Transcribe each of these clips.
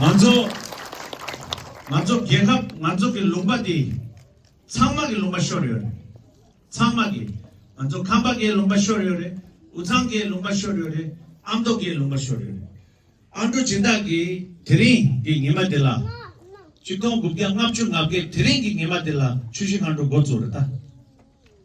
ང་ཚོ། ང་ཚོ་རྒྱལ་ཁབ་ང་ཚོ་གི་ལུང་པ་དེ། ཚང་མ་གི་ལུང་པ་ཤོར་ཡོད་རེད། ཚང་མ་གི། ང་ཚོ་ཁམས་པ་གའི་ལུང་པ་ཤོར་ཡོད་རེད། འུ་ཚང་གའི་ལུང་པ་ཤོར་ཡོད་རེད། ཨ་མདོ་གའི་ལུང་པ་ཤོར་ཡོད་རེད། ཨ་མདོ་སྦྱིན་བདག་གིས་དེ་རིང་གི་ཉི་མ་དེ་ལ། གཅིག་སྟོང་དགུ་བརྒྱ་ལྔ་བཅུ་ལྔ་བརྒྱད་དེ་རིང་གི་ཉི་མ་དེ་ལ་ཆུ་བཞི་སྔ་དྲོ་འགོ་བཙུགས་རེད་ད།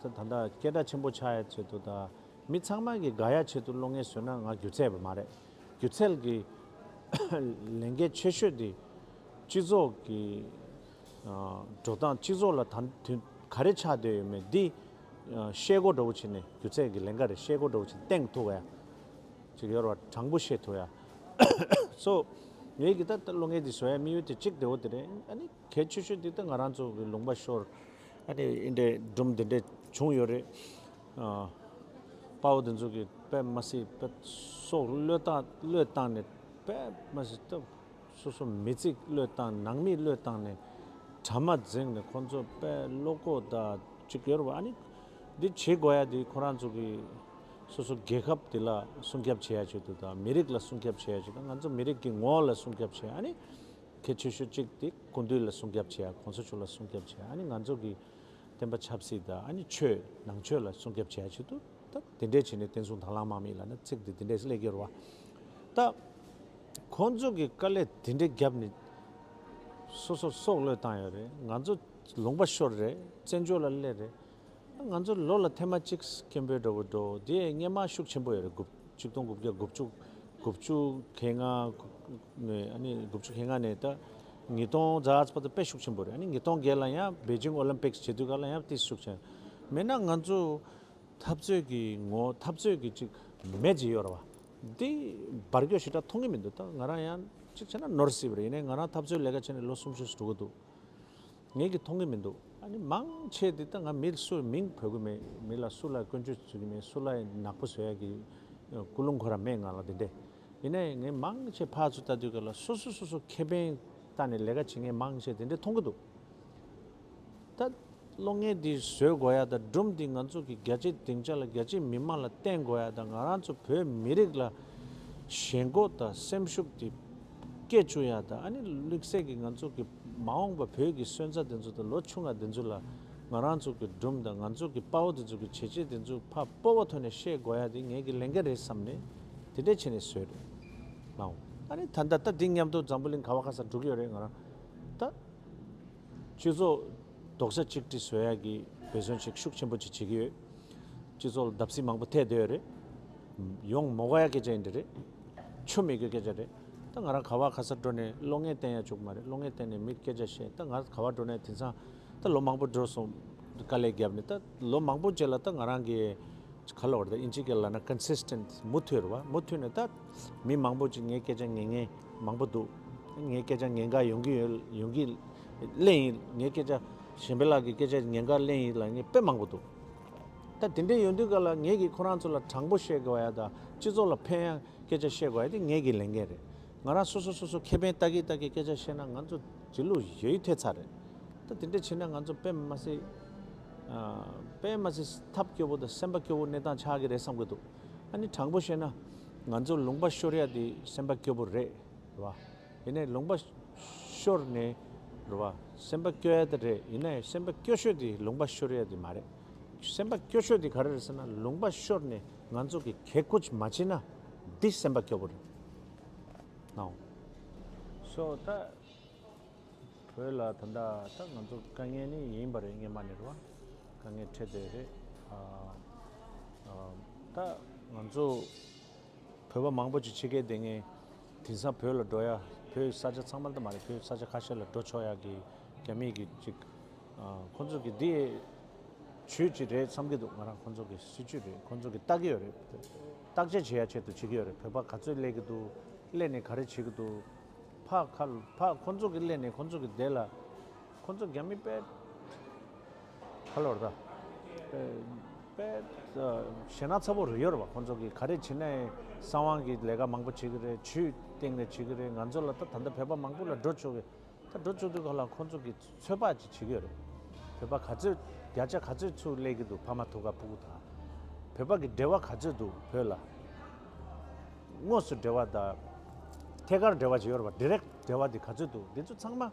ད་ལྟ་སྐད་སྒྲ་ཆེན་པོ་ཆགས་ཡ་ཆེད་དུ་དང་མི་ཚང་མ་གི་དགའ་ཡ་ཆེད་དུ་བློ་ངན་བཟོས་ན་ང་སྒྱུ་རྩལ་བ་མ་རེད། སྒྱུ་རྩལ་གི་ལས་འགན་ཆེ་ཤོས་དེ་སྤྱི་ཚོགས་ཀྱི་འགྲོ་སྟངས་སྤྱི་ཚོགས་ལ་དང་དུས་ག་རེ་ཆགས་སྡོད་ཡོད་མེད་འདི་ཤེས་གོ་འགྲོ་བོ་བྱེད་ནས་སྒྱུ་རྩལ་གི་ལས་འགའ་རེ་ཤེས་གོ་འགྲོ་བོ་བྱེད་སྟེང་ཐུག་ཡ་ཅིག་ཡོད་ར་བ་དྲང་པོ་ཤེས་ཐུག་ཡ་སོ་ངེད་ཀྱི་ད་ལྟ་བློ་ངན་དེ་བཟོ་ཡ་མི་ཡོད་དེ་གཅིག་དེ་བོ་དེ་རེད་ཨ་ནི། གལ་ཆེ་ཤོས་དེ་ད་ང་རང་ཚོ་གི་ལུང་པ་ཤོར་ཨ་ནི་འི་འདྲའི་སྦྲུམ་དེ་འདྲའི་བྱུང་ཡོད་རེད། དཔའ་བོ་དེ་ཚོ་གི་པད་མ་སི་ཏུ་སོགས་བློས་བཏང་བློས་བཏང་ནས་པད་མ་སི་ཏུ་སོ་སོ་མི་ཚིག་བློས་བཏང་ནང་མི་བློས་བཏང་ནས་གྲ་མ་འཛེགས་ནས་ཁོང་ཚོ་པད་བློ་ཁོག་ད་ཅིག་ཡོད་རེད་བ་ཨ་ནི་འདི་བྱེད་དགོས་ཡ་འདི་ཁོ་རང་ཚོ་གི་སོ་སོ་རྒྱལ་ཁབ་དེ་ལ་སྲུང་སྐྱབས་བྱེད་ཡ་ཆེད་དུ་ད་མི་རིགས་ལ་སྲུང་སྐྱབས་བྱེད་ཡ་ཆེད་དུ་ང་ཚོ་མི་རིགས་ཀྱི་ངོ་བོ་ལ་སྲུང་སྐྱབས་བྱེད་ཨ་ནི་གལ་ཆེ་ཤོས་གཅིག་དེ་ཀུན་བཏུས་ལ་སྲུང་སྐྱབས་བྱེད་ཡ་གོང་ས་མཆོག་ལ་སྲུང་སྐྱབས་བྱེད་ཡ་ཨ་ནི་ང་ཚོ་གི་བསྟན་པ་ཆབ་སྲིད་དང་ཨ་ནི་ཆོས་ནང་ཆོས་ལ་སྲུང་སྐྱབས་བྱེད་ཡ་ཆེད་དུ་ད་དེ་འདྲས་བྱེད་ནས་བསྟན་སྲུང་དྭང་བླང་དམག་མི་ལ་ནི་ཚིག་དེ་དེ་འདྲས་སླེ་གི་རུ་བ་ད་ཁོང་ཚོ་གི་དཀའ་ལས་དེ་འདྲས་རྒྱབ་ནི་སོ་སོར་སྲོག་བློས་བཏང་ཡོད་རེད་ང་ཚོ་ལུང་པ་ཤོར་རེད་བཙན་བྱོལ་ལ་སླེ་རེད། ང་ཚོར་ལོ་ལ་ཐེངས་མ་གཅིག་སྐམ་པོའི་སྒྲོ་གུ་འགྲོ་དེ་རྔན་མ་ཤུགས་ཆེན་པོ་ཡོད་རེད་དགུ་བཅུ་སྟོང་དགུ་བརྒྱ་དགུ་བཅུ་དགུ་བཅུ་གེ་ལྔ་དགུ་བཅུ་གེ་ལྔ་ནས་ད་ཉིས་སྟོང་རྫ་ཨ་ཕ་ད་དཔེ་ཤུགས་ཆེན་པོ་རེད་ཨ་ནི་ཉིས་སྟོང་བརྒྱད་ལ་ཡང་བེ་ཅིང་ཨོ་ལིམ་པིཀ་བྱེད་དུས་ཀ་ལ་ཡང་དཔེ་ཤུགས་ཆེན་མེད་ན་ང་ཚོ་འཐབ་རྩོད་ཀྱི་ངོ་འཐབ་རྩོད་ཀྱི་ཅིག་མེ་ཇི་ཡོད་ར་བ་དེ་འབར་སྐྱོ་ཞི་དྲག་མཐོང་གི་མི་འདུག་ད་ང་རང་ཡང་ཅིག་བྱས་ན་ནོར་སྲིད་པ་རེད་ཡིན་ནའི་ང་རང་འཐབ་རྩོད་ལས་ཀ་བྱས་ནས་ལོ་སུམ་ཅུ་སོ་དྲུག་འགོ་འདུག། ངེད་ཀྱིས་མཐོང་གི་མི་འདུག་ཨ་ནི་མང་ཆེས་འདི་ལྟ་ང་མི་ལ་སུའི་མིང་འབོད་གི་མེད་མི་ལ་སུ་ལ་སྐོན་བརྗོད་བྱེད་ཀྱི་མེད་སུ་ལ་ནག་པོ་བཟོ་ཡག་གི་ཀུ་ལུང་གོ་ར་མེད་ང་ལ་དེ་འདྲས་ཡིན་ནའི་ངས་མང་ཆེས་ཕག་ཚོ་ལྟ་དུས་ཀ་ལ་སོ་སོས་སོ་སོ་ཁེ་ཕན་ལྟ་ནས་ལས་ཀ་བྱེད་ངས་མང་ཆེས་དེ་འདྲས་མཐོང་གི་འདུག་ད། བློ་ངན་འདི་བཟོས་དགོས་ཡག་དང་སྦྲུམ་འདི་ང་ཚོ་གི་རྒྱ་ཆེའི་སྡིངས་ཆ་ལ་རྒྱ་ཆེའི་མི་དམངས་ལ་བསྟན་དགོས་ཡག་དང་ང་རང་ཚོ་བོད་མི་རིགས་ལ་ཞེན་གོ་དང་སེམས་ཤུགས་འདི་སྐྱེད་བཅུག་ཡག་དང་ཨ་ནི་ལུས་སྲེག་གི་ང་ཚོ་གི། མ་འོངས་པ་བོད་ཀྱི་སོན་རྩ་དེ་ཚོ་དང་ལོ་ཆུང་བ་དེ་ཚོ་ལ་ང་རང་ཚོ་གི་སྦྲུམ་དང་ང་ཚོ་གི་དཔའ་བོ་དེ་ཚོ་གི་བྱས་རྗེས་དེ་ཚོ་ཕ་སྤོ་བོ་ཐོན་ནས་ཤེས་དགོས་ཡ་དེ་ངེད་ཀྱི་ལས་འགན་རེད་བསམ་ནས་དེ་འདྲས་བྱས་ནས་ཟོས་རེད་ལགས། ཨ་ནི་ད་ལྟ་ད་དེ་ཉམས་རྟོགས་འཛམ་བུ་གླིང་ག་བ་ག་སར་འགྲོ་གི་ཡོད་རེད་ང་རང་ད་སྤྱི་ཚོགས་དོགས་ཟ་ཅིག་ཏྲི་ཟོས་ཡ་གི་འབད་བརྩོན་ཅིག་ཤུགས་ཆེན་པོ་ཅིག་བྱེད་ཀྱི་ཡོད་སྤྱི་ཚོགས་ལ་བརྡབ་གསིག་མང་པོ་ཐེབས་བསྡད་ཡོད་རེད་ཡོང་མོ་ག་ཡ་གེ་ཅག་ཡིན་འདྲ་རེད། ཆོ་མེད་ཀྱི་སྐད་ཆ་རེད། ད་ང་རང་ག་བར་ག་སར་འགྲོ་ནས་བློ་ངན་བསྟན་ཡ་བཅུག་མ་རེད་བློ་ངན་བསྟན་ནས་མིར་སྐད་ཆ་བཤད་ད་ང་ག་བར་འགྲོ་ནས་དེང་སང་ད་ལོ་མང་པོ་འགྲོ་སོང་དཀའ་ལས་རྒྱབ་ནས་ད་ལོ་མང་པོ་རྗེས་ལ་ད་ང་རང་གི་ག་ལ་བར་ད་ཨིན་ཇི་སྐད་ལ་ན Consistent མུ་མཐུད་རེད་བ་མུ་མཐུད་ནས་ད་མི་མང་པོ་ཅིག་ངའི་སྐད་ཆ་ངན་ངན་མང་པོ་འདུག་ད་ངའི་སྐད་ཆ་ངན་འགའ་ཡོང་གི་ཡོད་ཡོང་གི་གླེང་ཡིན་ངའི་སྐད་ཆ་གཞན་པའི་ལག་གི་སྐད་ཆ་ངན་འགའ་གླེང་ཡིན་ལ་ངས་དཔེ་མང་པོ་འདུག། ད་དེ་འདྲས་ཡོད་འདུག་ག་ལ་ངེད་ཀྱིས་ཁོ་རང་ཚོ་ལ་དྲང་པོ་བཤད་དགོས་བ་ཡ་དང་སྤྱི་ཚོགས་ལ་ཕན་ཡ་སྐད་ཆ་བཤད་དགོས་བ་ཡ་དེ་ངེད་ཀྱི་ལས་འགན་རེད། ང་རང་སོ་སོ་སོ་སོ་ཁེ་ཕན་ལྟ་གི་ལྟ་གི་སྐད་ཆ་བཤད་ན་ང་ཚོ་དེ་ལུགས་ཡོད་ཡོད་ཐེ་ཚར་རེད། ད་དེ་འདྲས་བྱེད་ན་ང་ཚོ་དཔེ་མ་སི། དཔེ་མ་སི་ཐབས་སྐྱོ་བོ་དང་སེམས་པ་སྐྱོ་བོ་གནས་སྟངས་ཆགས་ཀྱི་རེད་བསམ་གྱི་འདུག་ཨ་ནི་དྲང་པོ་བཤད་ན་ང་ཚོ་ལུང་པ་ཤོར་ཡ་དེ་སེམས་པ་སྐྱོ་བོ་རེད་བ། ཡེ་ནས་ལུང་པ་ཤོར་ནས་རུ་བ་སེམས་པ་སྐྱོ་ཡ་དེ་རེད་ཡིན་ན་ཡང་སེམས་པ་སྐྱོ་ཤོས་དེ་ལུང་པ་ཤོར་ཡ་དེ་མ་རེད་སེམས་པ་སྐྱོ་ཤོས་དེ་ག་རེ་རེད་ཟེར་ན་ལུང་པ་ཤོར་ནས་ང་ཚོ་གི་གས་ཀུཅ་མ་བྱེད་ན་དེ་སེམས་པ་སྐྱོ་པོ་རེད་ནའོ། སོ་ད་བོད་ལ་ད་ད་ད་ང་ཚོ་དཀའ་ངལ་ནི་ཡིན་པ་རེད་སྔན་མ་ནས་རུ་བ་དཀའ་ངལ་འཕྲད་བསྡད་རེད་ད་ང་ཚོ་བོད་པ་མང་པོ་ཅིག་ཕྱི་རྒྱལ་སྡད་ངེས། དེང་སང་བོད་ལ་འགྲོ་ཡ་བོད་ས་ཆ་ཚང་མར་ད་མ་རེད་བོད་ས་ཆ་ཁ་ཤས་ལ་འགྲོ་ཆོག་ཡ་གི་རྒྱ་མི་གི་ཅིག་ཁོ་ཚོ་གི་དེ་ཇུས་ཅིག་རེད་བསམ་གི་འདུག་ང་རང་ཁོ་ཚོ་གི་སྲིད་ཇུས་རེད་ཁོ་ཚོ་གི་བལྟ་གི་ཡོད་རེད་བརྟག་དཔྱད་བྱེད་ཡ་ཆེད་དུ་བྱེད་གི་ཡོད་རེད་བོད་པ་ག་ཚོད་སླེ་གི་འདུག་སླེ་ནས་ག་རེ་བྱེད་གི་འདུག་ཕ་ཁ་ཕ་ཁོ་ཚོ་གི་སླེ་ནས་ཁོ་ཚོ་གི་དེ་ལ་ཁོ་ཚོ་རྒྱ་མི་དཔལ། ཁ་ལོ་རྡ། པེ། ཞེ་ན་ཚ་བོ་རུ་ཡོར་བ་ཁོང་ཚོ་གིས་ག་རེ་བྱེད་ན་ཡིན་བསམ་དབང་གིས་ལས་ཀ་མང་པོ་བྱེད་ཀྱི་རེད་ཇུས་སྟེང་ནས་བྱེད་ཀྱི་རེད་ང་ཚོ་ལ་ད་ད་ལྟ་བོད་པ་མང་པོ་ལ་འགྲོ་བཅུག་ཡོད་ད་འགྲོ་བཅུག་དུས་ག་ལ་ཁོང་ཚོ་གིས་ཚོད་དཔག་ཅིག་བྱེད་ཀྱི་ཡོད་རེད་བོད་པ་ག་ཚོད་བརྒྱ་ཆ་ག་ཚོད་ཚུར་སླེད་ཀྱི་འདུག་ཕ་མ་ཐུག་ག་ཕུག་གུ་དང་བོད་པ་གི་འབྲེལ་བ་ག་ཚོད་འདུག་བོད་ལ་དངོས་སུ་འབྲེལ་བ་དང་ཐད་ཀར་འབྲེལ་བ་བྱེད་ཡོར་བ Direct འབྲེལ་བ་དེ་ག་ཚོད་འདུག་འདི་ཚོ་ཚང་མ།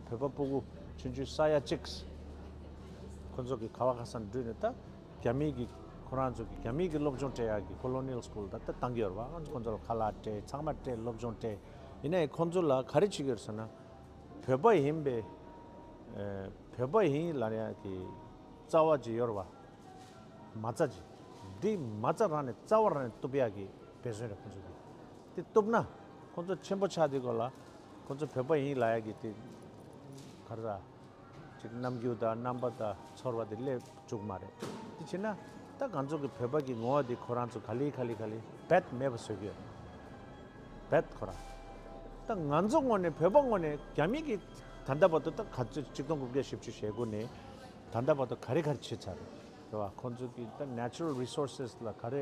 བོད་པ་སྤུ་གུ་ཆུན་ཆུན་ས་ཡ་གཅིག། ཁོ་ཚོ་གི་ཁ་བ་ཁ་སང་བསྒྲུས་ནས་ད་རྒྱ་མིའི་གི་ཁོ་རང་ཚོ་གི་རྒྱ་མིའི་གི་སློབ་སྦྱོང་སྤྲད་ཡག་གི Colonial School དང་ད་གཏང་གི་ཡོད་རེད་པ་ཁོ་ཚོ་ལ་ཁ་ལག་སྤྲད་ཚང་མ་སྤྲད་སློབ་སྦྱོང་སྤྲད་ཡིན་ནའི་ཁོ་ཚོ་ལ་ག་རེ་བྱེད་གི་ཡོད་ཟེར་ན། བོད་པ་ཡིན་པའི་བོད་པ་ཡིན་ལ་ཡ་གི་རྩ་བ་ཇི་ཡོད་རེད་པ། མ་རྩ་ཇི། འདི་མ་རྩ་རང་ནས་རྩ་བ་རང་ནས་གཏུབ་ཡག་གི་བེད་བཟོད་རེད་ཁོ་ཚོ་གི། དེ་གཏུབ་ན། ཁོང་ཚོ་ཆེན་པོ་ཆགས་དེ་གོ་ལ་ཁོང་ཚོ་བོད་པ་ཡིན་ལ་ཡ་གི་དེ་ག་རེ་ད་རྣམ་འགྱུར་དང་རྣམ་པ་དང་ཚོར་བ་དེ་སླེབས་བཅུག་མ་རེད་དེ་བྱས་ན་ད་གང་ཚོ་གི་བོད་པ་གི་ངོ་བ་དེ་ཁོ་རང་ཚོ་ག་ལི་ག་ལི་ག་ལི་བད་མེད་པ་བཟོས་གི་ཡོད་བད་ཁོ་རང་ད་ང་ཚོ་ངོ་ནས་བོད་པ་ངོ་ནས་རྒྱ་མི་གི་ད་ལྟ་བར་དུ་ད་ག་ཚོད་གཅིག་སྟོང་དགུ་བརྒྱ་བཞི་བཅུ་ཞེ་དགུ་ནས་ད་ལྟ་བར་དུ་ག་རེ་ག་རེ་བྱས་ཚར་རེད་དེ་བ་ཁོང་ཚོ་གི་ད natural resources ལ་ག་རེ་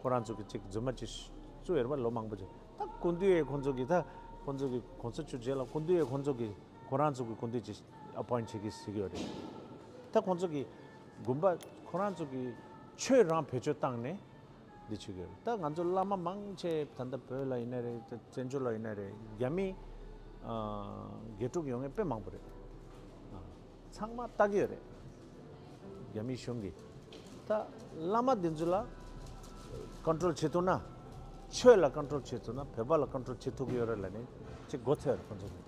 ཁོ་རང་ཚོ་གི་ཅིག་རྫུན་མ་ཅིག་བཙུགས་ཡོད་པ་ལོ་མང་པོ་རྗེས་ད་ཀུན་བཏུས་ཡས་ཁོང་ཚོ་གི་ད་ཁོང་ཚོ་གི་གོང་ས་བཅུ་རྗེས་ལ་ཀུན་བཏུས་ཡས་ཁོང་ཚོ་གི་ཁོ་རང་ཚོ་གི་ཀུན་བཏུས་ཅིག appoint བྱེད་ཀི་ཟིག་ཡོད་རེད་ད་ཁོང་ཚོ་གི་དགོན་པ་ཁོ་རང་ཚོ་གི་ཆོས་རང་བེད་སྤྱོད་བཏང་ནས་འདི་བྱེད་ཀི་ཡོད་རེད་ད་ང་ཚོ་བླ་མ་མང་ཆེ་ད་ལྟ་བོད་ལ་ཡིན་ན་རེད་ད་བཙན་བྱོལ་ལ་ཡིན་ན་རེད་རྒྱ་མི་དགེ་ཕྲུག་ཡོང་ངེས་དཔེ་མང་པོ་རེད་ཚང་མ་བལྟ་གི་ཡོད་རེད། རྒྱ་མི་གཞུང་གིས་ད་བླ་མ་འདི་ཚོ་ལ Control བྱེད་ཐུབ་ན། ཆོས་ལ Control བྱེད་ཐུབ་ན་བོད་པ་ལ Control བྱེད་ཐུབ་གི་ཡོད་རེད་ལ་ནི་ཅེས་མགོ་འཚོས་རེད་ཁོང་ཚོ་ནི།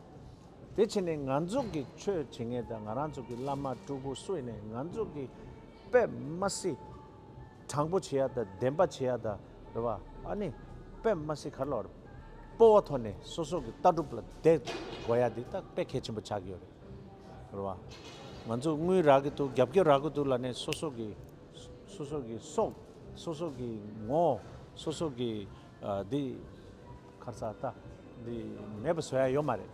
དེ་ཕྱིར་ནི་ང་ཚོ་གི་ཆོས་བྱེད་མཁན་དང་ང་རང་ཚོ་གི་བླ་མ་སྤྲུལ་སྐུ་སུ་ཡིན་ནས་ང་ཚོ་གི་པདྨ་སི་དྲང་པོ་བྱེད་ཡ་དང་བདེན་པ་བྱེད་ཡ་དང་རེད་བ་ཨ་ནི་པདྨ་སི་ག་ལ་བར་སྤོ་བ་ཐོག་ནས་སོ་སོ་གི་ལྟ་གྲུབ་ལ་བསྡད་དགོས་ཡ་འདི་ད་དཔེ་གལ་ཆེན་པོ་ཆགས་ཀྱི་ཡོད་རེད། རེད་བ། ང་ཚོས་དངུལ་རག་གི་འདུག་རྒྱབ་སྐྱོར་རག་གི་འདུག་ལ་ནི་སོ་སོ་གི། སོ་སོ་གི་སྲོག། སོ་སོ་གི་ངོ། སོ་སོ་གི། འདི། ཁར་ཚ་རྟ། འདི། མེད་པ་བཟོ་ཡ་ཡོད་མ་རེད།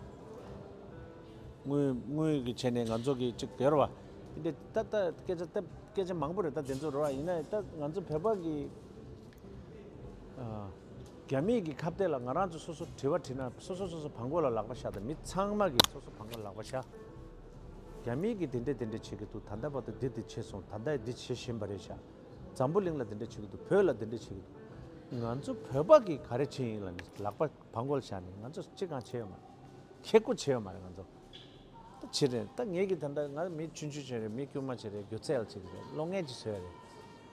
དངུལ། དངུལ་གི་ཆེད་ནས་ང་ཚོ་གི་ཅིག་དེར་བ། འདི། ད་ལྟ་སྐད་ཆ་སྟབས། སྐད་ཆ་མང་པོ་རེད་ད་དེ་ཚོ་རེད་བ་ཡིན་ན་ད་ང་ཚོ་བོད་པ་གི། རྒྱ་མིས་ཀྱི་ཁ་བརྡལ་ལ་ང་རང་ཚོ་སོ་སོ་དྲི་བ་དྲི་ན་སོ་སོ་སོ་སོ་བང་གོ་ལ་ལག་པ་བཞག་དང་མི་ཚང་མ་གིས་སོ་སོ་བང་གོ་ལ་ལག་པ་བཞག་རྒྱ་མིས་ཀྱི་དེ་འདྲས་དེ་འདྲས་བྱེད་ཀྱི་འདུག་ད་ལྟ་བར་དུ་འདི་འདི་བྱེད་སོང་ད་ལྟ་ཡི་འདི་བྱེད་བཞིན་པ་རེད་བཞག་འཛམ་བུ་གླིང་ལ་དེ་འདྲས་བྱེད་ཀྱི་འདུག་བོད་ལ་དེ་འདྲས་བྱེད་ཀྱི་འདུག་ང་ཚོ་བོད་པ་གིས་ག་རེ་བྱེད་ཡིན་ལ་ནི་ལག་པ་བང་གོ་ལ་བཞག་ནི་ང་ཚོ་ཅི་གང་བྱེད་ཡོད་མ་རེད་ཁྱེད་ཀོ་བྱེད་ཡོད་མ་རེད་ང་ཚོ་ད་བྱེད་རེད་ད་ངེད་ཀྱིས་ད་ལྟ་ང་རང་མི་ཆུན་ཆུན་བྱེད་རེད་མི་དཀྱུས་མ་བྱེད་རེད་སྒྱུ་རྩལ་བྱེད་ཀྱི་རེད་བློ་ངན་ཅིག་བྱེད་རེད།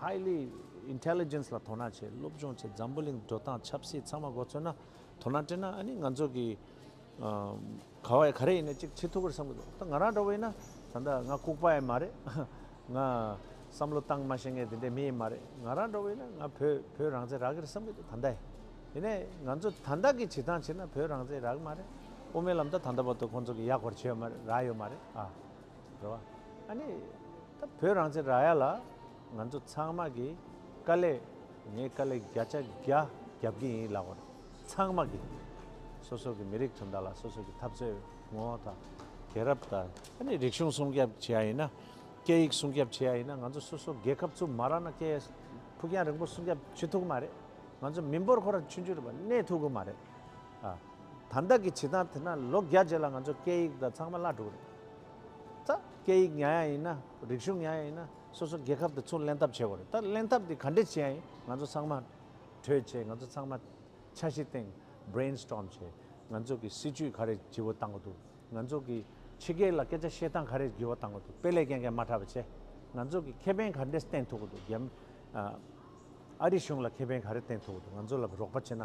Highly Intelligence ལ་དོ་སྣང་བྱེད་སློབ་སྦྱོང་བྱེད་འཛམ་བུ་གླིང་འགྲོ་སྟངས་ཆབ་སྲིད་ཚང་མ་མགོ་ཚོས་ན་དོ་སྣང་སྤྲད་ན་ཨ་ནི་ང་ཚོ་གི་ག་བ་ཡ་ག་རེ་ཡིན་ན་གཅིག་བྱེད་ཐུབ་པར་བསམ་གི་འདུག་ད་ང་རང་འདྲ་བོ་ཡིན་ན་ད་ལྟ་ང་ལྐུགས་པ་ཡང་མ་རེད་ང་བསམ་བློ་བཏང་མ་ཤེས་མཁན་དེ་འདྲའི་མི་ཡིན་མ་རེད་ང་རང་འདྲ་བོ་ཡིན་ན་ང་བོད་བོད་རང་བཙན་རག་གི་རེད་བསམ་གི་འདུག་ད་ལྟ་ཡིན་ནས་ང་ཚོ་ད་ལྟ་གི་བྱེད་སྟངས་བྱས་ན་བོད་རང་བཙན་རག་གི་མ་རེད་དབུ་མའི་ལམ་ད་ད་ལྟ་བར་དུ་ཁོང་ཚོ་གི་ཡག་པར་བྱས་ཡོད་མ་རེད་རག་ཡོད་མ་རེད་ཨ། རེད་བ། ཨ་ནི། ད་བོད་རང་བཙན་རག་ཡ་ལ། ང་ཚོ་ཚང་མ་གི་དཀའ་ལས། ངའི་དཀའ་ལས་བརྒྱ་ཆ་བརྒྱ་རྒྱབ་ཀྱི་ཡིན་ལགས་པར། ཚང་མ་གི། སོ་སོ་གི་མི་རིགས་དོན་དག་ལ་སོ་སོ་གི་འཐབ་རྩོད་ངོ་བོ་དང། དེང་རབས་དང། ཨ་ནི་རིག་གཞུང་སྲུང་སྐྱབས་བྱེད་ཡ་ཡིན་ན། སྐད་ཡིག་སྲུང་སྐྱབས་བྱེད་ཡ་ཡིན་ན་ང་ཚོ་སོ་སོ་རྒྱལ་ཁབ་ཚུགས་མ་རག་ན་སྐད་ཡིག་ཕུགས་རྒྱང་རིང་པོ་སྲུང་སྐྱབས་བྱེད་ཐུག་གི་མ་རེད། ང་ཚོ་མི་འབོར་ཁོ་ར་ཆུན་ཆུན་རེད་པ་གནས་ཐུག་གི་མ་རེད། ད་ལྟ་གི་བྱེད་སྟངས་དེ་ན་ལོ་བརྒྱ་རྗེས་ལ་ང་ཚོ་སྐད་ཡིག་དང་ཚང་མ་བླ་འགྲོ་གི་རེད། ད། སྐད་ཡིག་ཉག་ཡང་ཡིན་ན། རིག་གཞུང་ཉག་ཡང་ཡིན་ན། སོ་སོ་རྒྱལ་ཁབ་དེ་ཚུར་གླེང་ཐབས་བྱེད་དགོས་རེད། ད་གླེང་ཐབས་དེ་ག་འདྲས་བྱེད་ཡང་ཡིན། ང་ཚོ་ཚང་མ། གྲོས་བྱེད། ང་ཚོ་ཚང་མ། འཆར་གཞི་བཏིང། Brain Storm། བྱེད། ང་ཚོ་གི་སྲིད་ཇུས་ག་རེ་ཇི་བོ་བཏང་གི་འདུག་ང་ཚོ་གི། ཕྱི་རྒྱལ་ལ་སྐད་ཆ་བཤད་སྟངས་ག་རེ་ཇི་བོ་བཏང་གི་འདུག་དཔེ་ལས་རྒྱན་གན་མ་དྲག་པ་བྱེད། ང་ཚོ་གི་ཁེ་ཕན་ག་འདྲས་བསྟན་ཐུབ་གི་འདུག་རྒྱ། ཨ་རི་གཞུང་ལ་ཁེ་ཕན་ག་རེ་བསྟན་ཐུབ་གི་འདུག་ང་ཚོ་ལ་རོགས་པ་བྱེད་ན།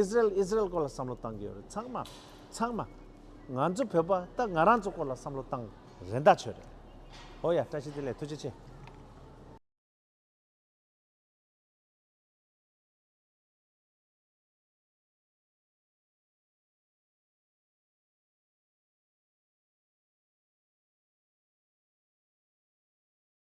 Israel Israel སྐོར་ལ་བསམ་བློ་བཏང་གི་ཡོད་རེད་ཚང་མ་ཚང་མ། ང་ཚོ་བོད་པ་ད་ང་རང་ཚོ་སྐོར་ལ་བསམ་བློ་བཏང་རན་ད་ཆོད་རེད། ཧོ་ཡ་བཀྲ་ཤིས་བདེ་ལེགས་ཐུགས་རྗེ་ཆེ།